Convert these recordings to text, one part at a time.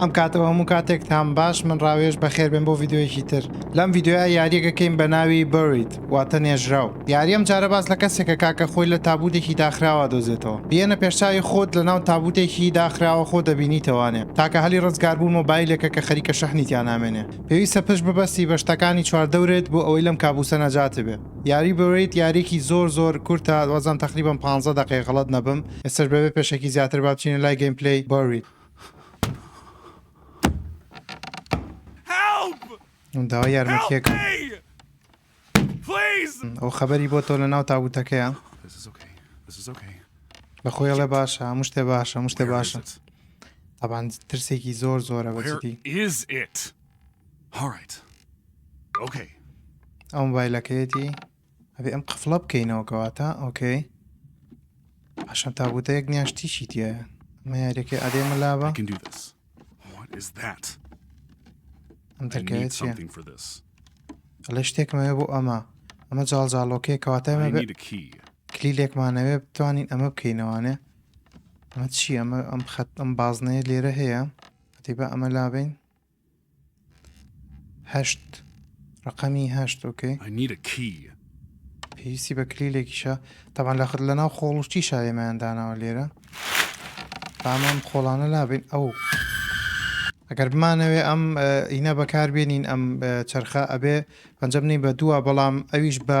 ئەم کاتەو هەموو کاتێک تان باش من ڕاوێژ بەخێر بێن بۆ ڤیدیۆیەکی تر لەم ڤیدیۆیە یاریەک ئەکەین بەناوی Buried واتە نێژراو یاری ئەم جارە باس لە کەسێکە کاکە خۆی لە تابوتێکی داخراوا دۆزێتەوە بیەنە پێش چاوی خۆت لەناو تابوتێکی داخراوا خۆ دەبینیتەوە ئەنێ تاکە هەلی ڕزگار بوون مۆبایلێکە کە خەریکە شەحنی تیا نامێنێ پێویستە پشت ببەستی بە شتەکانی چواردەورت بۆ ئەوەی لەم کابوسە نەجاتت بێ یاری Buried یاریەکی زۆر زۆر کورتە وازدەم تەقریبەن پانزە دەقەیە غەڵەت نەبم ئێستەش بەبێ پێشەکی زیاتر با بچینە لای گەیمپلەی Buried. داوای یارمەتیەکە ئەو خەبەری بۆ تۆ لە ناو تابوتەکەیە بە خۆیڵێ باشە هەموو شتێ باشە هەموو شتێ باشە تابان ترسێکی زۆر زۆرە بەجدی ئەو بایلەکەیەتی ئەبێ ئەم قفڵە بکەینەوە کەواتە ئۆکەی پاشان تابوتە یەک نیاش تیشی تایە ئەمە یاریەکەی ئەدێ مەلابە ئەم دەرگایە چیە ئەلێ شتێکمەوێ بۆ ئەمە ئەمە جاڵجاڵۆکەیە کەواتای مە کلی لێکمانەوێ بتوانین ئەمە بکەینەوانێ ئەمە چی ئەمە ئەم خەت ئەم بازنەیە لێرە هەیە هەتی بە ئەمە لابین هەشت ڕقەمی هەشت ئۆکەی پێویستی بە کلیلێکیشە تەبان لە خت لەناو خۆڵشتی شایێمایان داناوە لێرە بامان خۆڵانە لابین ئەو ئەگەر بمانەوێ ئەم ئینە بەکار بێنین ئەم چرخە ئەبێ پەنجەم نی بە دووە بەڵام ئەویش بە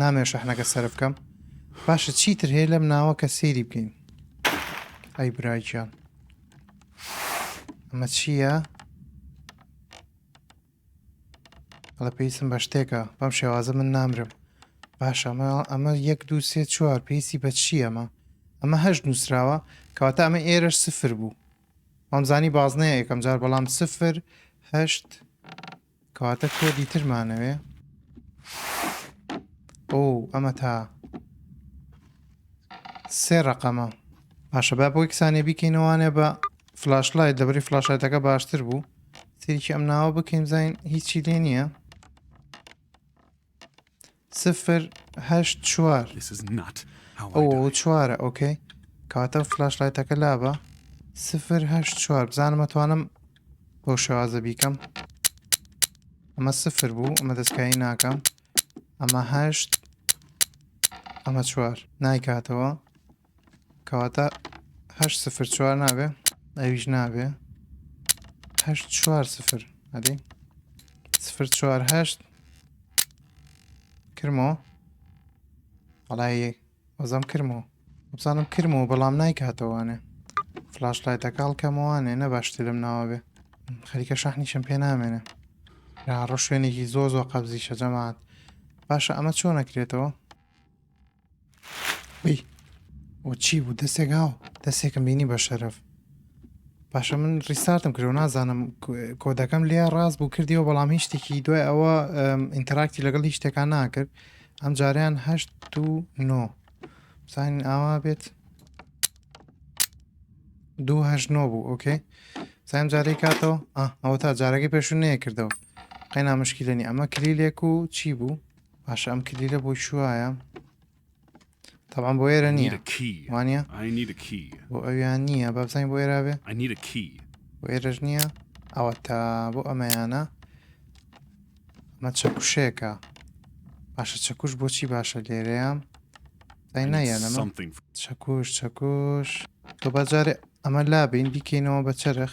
نامەوێ شەحنەکە سەرف بکەم باشە چیتر هەیە لەم ناوە کە سەیری بکەین ئەی براگیان ئەمە چییە؟ لە پێیسم بە شتێکە بەم شێوازە من نامرم باش ئەمە ئەمە یەک دو سێ چوار پێیسی بە چی ئەمە ئەمە هەشت نووسراوە کەواتە ئەمە ئێرەش سفر بوو ئەمزانی بازنەیە یەکەم جار بەڵام سفر هەشت کەواتە کۆدی تر مانەوێ ئۆ ئەمە تا سێ ڕقەمە باشە با بۆی کسانی بیکەینەوانێ بە فلاش لایت لەبری فلاشایتەکە باشتر بوو تێکی ئەم ناوە بکەین زین هیچی لێ نییە سفر هەشت چوار ئەو چوارە ئۆکەی کاتە فلاش لایتەکە لابە سفر هەشت چوار بزانمە توانم بۆ شێوازە بیکەم ئەمە سفر بوو ئەمە دەستکایی ناکەم ئەمە هەشت ئەمە چوار نایکاتەوە کەواتە هەشت سفر چوار نابێ ئەویش نابێ هەشت چوار سفر ئەدی سفر چوار هەشت کرمەوە بەڵای وەزەم کرمەوە بزانم کرمەوە بەڵام نایکاتەوانێ فلاش لایتەکەڵ کەمەوانێ نە باشتر لەم ناوە بێ خەریکە شەحنیشم پێ نامێنێ ڕۆ شوێنێکی زۆر زۆر قەبزی شەجەمات باشە ئەمە چۆن نەکرێتەوە وی وە چی بوو دەستێک هاو دەستێکم بینی بە شەرەف باشە من ڕیستارتم کرد و نازانم کو- کۆدەکەم لێ ڕاست بوو کردیەوە بەڵام هیچ شتێکی دوای ئەوە ئەم، ئینتەراکتی لەگەڵ هیچ شتێکان ناکرد ئەم جاریان هەشت و نۆ بزانین ئاوا بێت دوو هەشت نۆ بوو ئۆکەی سایم جارەی کاتەوە ئا ئەوە تا جارەکەی پێشو نەیە کردەوە قەینا مشکیلە نیە ئەمە کلیلێک و چی بوو باشە ئەم کلیلە بۆ چوایە طبعا بۆ ئێرە نییە وانە بۆ ئەویان نییە بابزانین بۆ ئێرا بێ بۆ ئێرەش نییە ئەوە تا بۆ ئەمەیانە مە چەکوشێکە باشە چەکوش بۆچی باشە لێرەیە دای نایە لەمە چەکوش چەکوش تۆ بەجارێ ئەمە لابین بیکەینەوە بە چرخ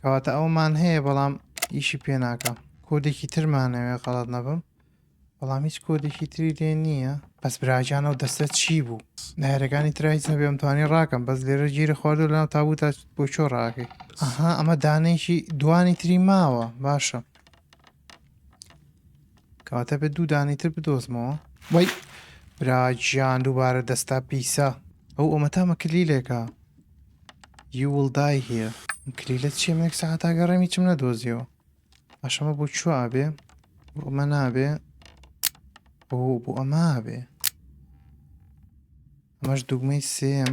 کەواتە ئەومان هەیە بەڵام ئیشی پێ ناکە کۆدێکی ترمانەوێ غەڵت نەبم بەڵام هیچ کۆدێکی تری لێ نییە بەس براجان و دەستە چی بوو نایرەکانی ترایز هەبێ ئەمتوانی ڕاکەم بەس لێرە گیری خواردو لەناو تابوو تا بۆ چۆ ڕاکەی ئەها ئەمە دانێکی دوانی تری ماوە باشە کەواتە بێت دوو دانەی تر بدۆزمەوە وەی براگیان دووبارە دەستا پیسە ئەو ئەومەتامە کلیلێکە یوڵدای هیە کلیلە چیە منێک سەعاتا گەڕێمی چم نەدۆزیەوە ئاشەمە بۆ چوە ئابێ بۆ ئەمە نابێ بۆ بۆ ئەمە بێ ئەمەش دوگمەی سێم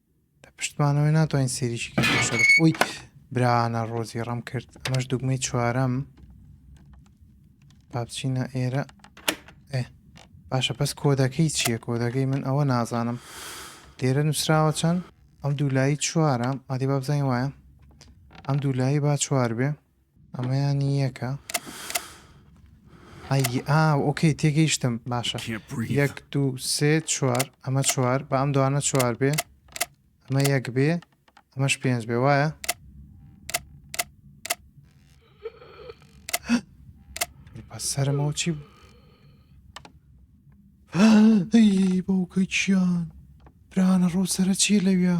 پشتمانەوەی ناتوانین سێریشی کەشەر ئەوی برانە ڕۆزی ڕم کرد ئەمەش دوگمەی چوارەم پاپچینە ئێرە ئێ باشە بەس کۆدەکەی چییە کۆدەکەی من ئەوە نازانم لێرە نووسراوە چەند ئەم دوولایی چوارە ئادی بابزانین وایە ئەم دوولایی با چوار بێ ئەمەیان یەکە ئەی ئا ئۆکەی تێگەیشتم باشە یەک دوو سێ چوار ئەمە چوار بە ئەم دوانە چوار بێ ئەمە یەک بێ ئەمەش پێنج بێ وایە سەرمەوە چی بوو بەوکە چیان برانە ڕۆ سرە چیە لەویا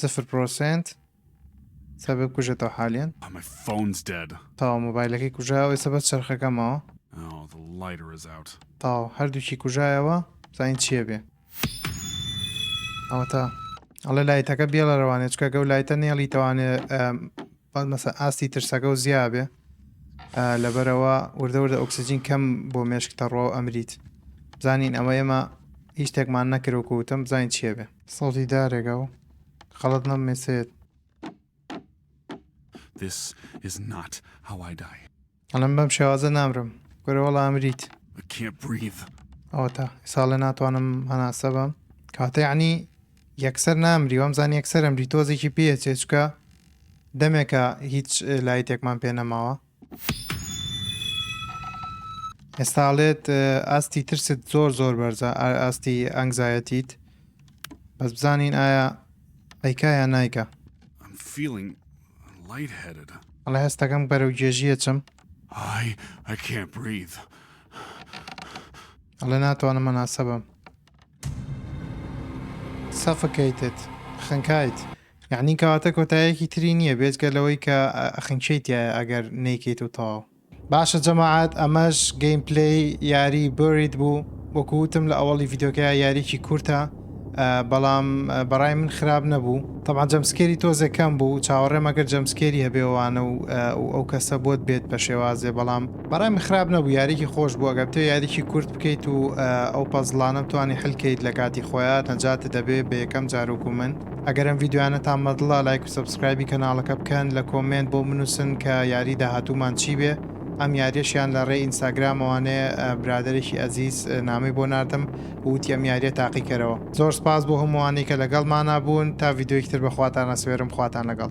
سفر پرۆسنت سا بێ کوژێتەوە حالیان تاوە مۆبایلەکەی کوژاوە ئێستا بەس چرخەکەمەوە oh, تاو هەردووکی کوژایەوە زین چیە بێ ئەوە تا ئەڵێ لایتەکە بێڵە ڕەوانێ چکە گەو لایتە نێڵی تەوانێ مەسە ئاستی ترسەکە و زیابێ لەبەرەوە وردەوردە ئۆکسسیجین کەم بۆ مێشک تەڕوە و ئەمریت بزانین ئەمە ئێمە هیچ شتێکمان نەکرۆکوتم بزانین چیە بێ سەوتی دارێکە و خەڵەت نەم مێسێت This is not how I die. ئەڵم بەم شێوازە نامرم گەرەوەڵ ئامریت ئەوەتا ساڵێ ناتوانم هەناسە بەم کاتەیانی یەکسەر نامری وەم زان یەکسەرم ری تۆزێکی پێچێچکە دەمێکە هیچ لای تێکمان پێ نەماوە ئێستا ئەڵێت ئاستی ترست زۆر زۆر بەرزە ئاستی ئەنگزایەتیت بەس بزانین ئایا ئەیکا یان نایکە ئەڵێ هەستەکەم بەرەو گێژیە چم ئەڵێ ناتوانم مەناسە بم سەفکەیتت خنکایت یەعنی کەواتە کۆتایەکی تری نییە بێجگە لەوەی کە خنکێی تایە ئەگەر نەیکەیت و تەواو. باشە جەماعەت ئەمەش گەیم پلەی یاری Buried بوو وەکو وتم لە ئەوەڵی ڤیدۆکەیا یاریکی کورتە بەڵام بەڕای من خراپ نەبوو تەبعەن جەمسکێری تۆزێ کەم بوو چاوەڕێم ئەگەر جەمسکێری هەبێ وانە و ئەو کەسە بۆت بێت بە شێوازێ بەڵام بەڕای من خراپ نەبوو یاریکی خۆش بوو ئەگەر بتەوێ یاریکی کورت بکەیت و ئەو پەزڵانە بتوانی حل کەیت لە کاتی خۆیان نەجاتت دەبێ بە یەکەم جار وەکو من ئەگەر ئەم ڤیدیۆیانەتان مەدڵە لایک و سەبسکرایبی کەناڵەکە بکەن لە کۆمێنت بۆم بنوسن کە یاری داهاتوومان چی بێ ئەم یاریەش یان لە ڕێی ئینستاگرامەوانێ برادەرێکی ئەزیز نامەی بۆ ناردم ووتی ئەم یاریە تاقی کەرەوە. زۆر سپاس بۆ هەمووانەی کە لەگەڵمانا بوون تا ڤیدیۆیەکی تر بەخواتان ئەسوێرم خواتان لەگەڵ.